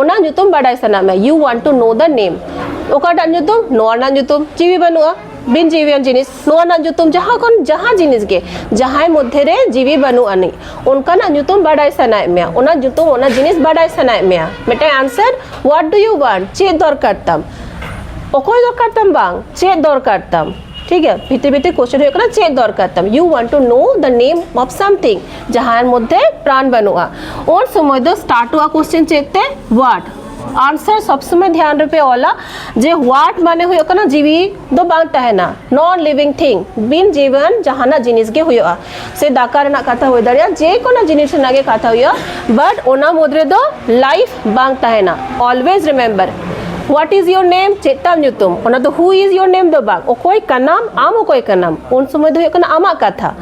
ᱚᱱᱟ ᱧᱩᱛᱩᱢ ᱵᱟᱰᱟᱭ ᱥᱟᱱᱟ ᱢᱮ you want to know the name ᱚᱠᱟᱴᱟᱜ ᱧᱩᱛᱩᱢ ᱱᱚᱣᱟ ᱨᱮᱱᱟᱜ ᱧᱩᱛᱩᱢ ᱡᱤᱣᱤ ᱵᱟᱹᱱᱩᱜᱼᱟ ᱵᱤᱱ ᱡᱤᱣᱤᱭᱟᱱ ᱡᱤᱱᱤᱥ ᱱᱚᱣᱟ ᱨᱮᱱᱟᱜ ᱧᱩᱛᱩᱢ ᱡᱟᱦᱟᱸ ᱠᱷᱚᱱ ᱡᱟᱦᱟᱸ ᱡᱤᱱᱤᱥ ᱜᱮ ᱡᱟᱦᱟᱸᱭ ᱢᱚᱫᱽᱫᱷᱮ ᱨᱮ ᱡᱤᱣᱤ ᱵᱟᱹᱱᱩᱜ ᱟᱹᱱᱤᱡ ᱚᱱᱠᱟᱱᱟᱜ ᱧᱩᱛᱩᱢ ᱵᱟᱰᱟᱭ ᱥᱟᱱᱟᱭᱮᱫ ᱢᱮᱭᱟ ᱚᱱᱟ ᱧᱩᱛᱩᱢ ᱚᱱᱟ ᱡᱤᱱᱤᱥ ᱵᱟᱰᱟᱭ ᱥᱟᱱᱟᱭᱮᱫ ᱢᱮᱭᱟ ᱢᱤᱫᱴᱟᱝ answer what do you want ᱪᱮᱫ ᱫᱚᱨᱠᱟᱨ ᱛᱟᱢ ᱚᱠᱚᱭ ᱫᱚᱨᱠᱟᱨ ᱛᱟᱢ ᱵᱟᱝ ᱪᱮᱫ ᱫᱚᱨᱠᱟর ᱛᱟᱢ ᱴᱷᱤᱠ ᱜᱮᱭᱟ ᱵᱷᱤᱛᱤᱨ ᱵᱷᱤᱛᱤᱨ ᱠᱚᱥᱪᱮᱱ ᱦᱩᱭᱩᱜ ᱠᱟᱱᱟ ᱪᱮᱫ ᱫᱚᱨᱠᱟᱨ ᱛᱟᱢ you want to know the name of something ᱡᱟᱦᱟᱸᱭ ᱢᱚᱫᱽᱫᱷᱮ ᱯᱨᱟᱱ ᱵᱟᱹᱱᱩᱜᱼᱟ ᱩᱱ ᱥᱚᱢᱚᱭ ᱫᱚ ᱥᱴᱟᱨᱴᱚᱜᱼᱟ ᱠᱚᱥᱪᱮᱱ ᱪᱮᱫ ᱛᱮ ᱣᱟᱴ ᱟᱱᱥᱟᱨ ᱥᱚᱵ ᱥᱚᱢᱚᱭ ᱫᱷᱮᱭᱟᱱ ᱨᱮᱯᱮ ᱚᱞᱟ ᱡᱮ ᱣᱟᱴ ᱢᱟᱱᱮ ᱦᱩᱭᱩᱜ ᱠᱟᱱᱟ ᱡᱤᱣᱤ ᱫᱚ ᱵᱟᱝ ᱛᱟᱦᱮᱱᱟ ᱱᱚᱱ ᱞᱤᱵᱤᱝ ᱛᱷᱤᱝ ᱵᱤᱱ ᱡᱤᱵᱚᱱ ᱡᱟᱦᱟᱱᱟᱜ ᱡᱤᱱᱤᱥ ᱜᱮ ᱦᱩᱭᱩᱜᱼᱟ ᱥᱮ ᱫᱟᱠᱟ ᱨᱮᱱᱟᱜ ᱠᱟᱛᱷᱟ ᱦᱩᱭ ᱫᱟᱲᱮᱭᱟᱜᱼᱟ ᱡᱮ ᱠᱳᱱᱳ ᱡᱤᱱᱤᱥ ᱨᱮᱱᱟᱜ ᱜᱮ ᱠᱟᱛᱷᱟ ᱦᱩᱭᱩᱜᱼᱟ ᱵᱟᱴ ᱚᱱᱟ ᱢᱩᱫᱽ ᱨᱮᱫᱚ ᱞᱟᱭᱤᱯᱷ ᱵᱟᱝ ᱛᱟᱦᱮᱱᱟ ᱚᱞᱣᱮᱡ ᱨᱤᱢᱮᱢᱵᱟᱨ ᱣᱟᱴ ᱤᱡ ᱭᱳᱨ ᱱᱮᱢ ᱪᱮᱫ ᱛᱟᱢ ᱧᱩᱛᱩᱢ ᱚᱱᱟ ᱫᱚ ᱦᱩ ᱤᱡ ᱭᱳᱨ ᱱᱮᱢ ᱫᱚ ᱵᱟᱝ ᱚᱠᱚᱭ ᱠᱟᱱᱟᱢ ᱟᱢ ᱚᱠᱚᱭ ᱠᱟᱱᱟᱢ ᱩᱱ ᱥᱚᱢᱚᱭ ᱫᱚ ᱦᱩᱭᱩᱜ ᱠᱟᱱᱟ ᱟᱢᱟᱜ ᱠᱟᱛᱷᱟ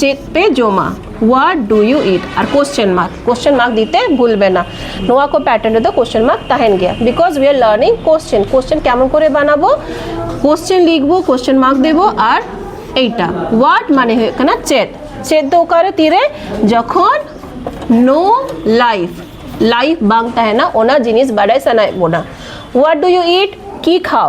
ᱪᱮᱫ ᱯᱮ ᱡᱚᱢᱟ ᱣᱟᱴ ᱰᱩ ᱭᱩ ᱤᱴ ᱟᱨ ᱠᱚᱥᱪᱮᱱ ᱢᱟᱨᱠ ᱠᱚᱥᱪᱮᱱ ᱢᱟᱨᱠ ᱫᱤᱛᱮ ᱵᱷᱩᱞ ᱵᱮᱱᱟ ᱱᱚᱣᱟ ᱠᱚ ᱯᱮᱴᱟᱨᱱ ᱨᱮᱫᱚ ᱠᱚᱥᱪᱮᱱ ᱢᱟᱨᱠ ᱛᱟᱦᱮᱱ ᱜᱮᱭᱟ because we are learning question question ᱠᱮᱢᱚᱱ ᱠᱚᱨᱮ ᱵᱟᱱᱟᱵᱚ ᱠᱚᱥᱪᱮᱱ ᱞᱤখᱵᱚ ᱠᱚᱥᱪᱮᱱ ᱢᱟᱨᱠ ᱫᱮᱵᱚ ᱟᱨ ᱮᱭᱴᱟ ᱣᱟᱴ ᱢᱟᱱᱮ ᱦᱩᱭᱩᱜ ᱠᱟᱱᱟ ᱪᱮᱫ ᱪᱮᱫ ᱫᱚ ᱚᱠᱟᱨᱮ ᱛᱤᱨᱮ ᱡᱚᱠᱷᱚᱱ ᱱᱳ ᱞᱟᱭᱤᱯᱷ ᱞᱟᱭᱤᱯᱷ ᱵᱟᱝ ᱛᱟᱦᱮᱱᱟ ᱚᱱᱟ ᱡᱤᱱᱤᱥ ᱵᱟᱰᱟᱭ ᱥᱟᱱᱟᱭᱮᱫ ᱵᱚᱱᱟ ᱣᱟᱴ ᱰᱩ ᱭᱩ ᱤᱴ ᱠᱤ ᱠᱷᱟᱣ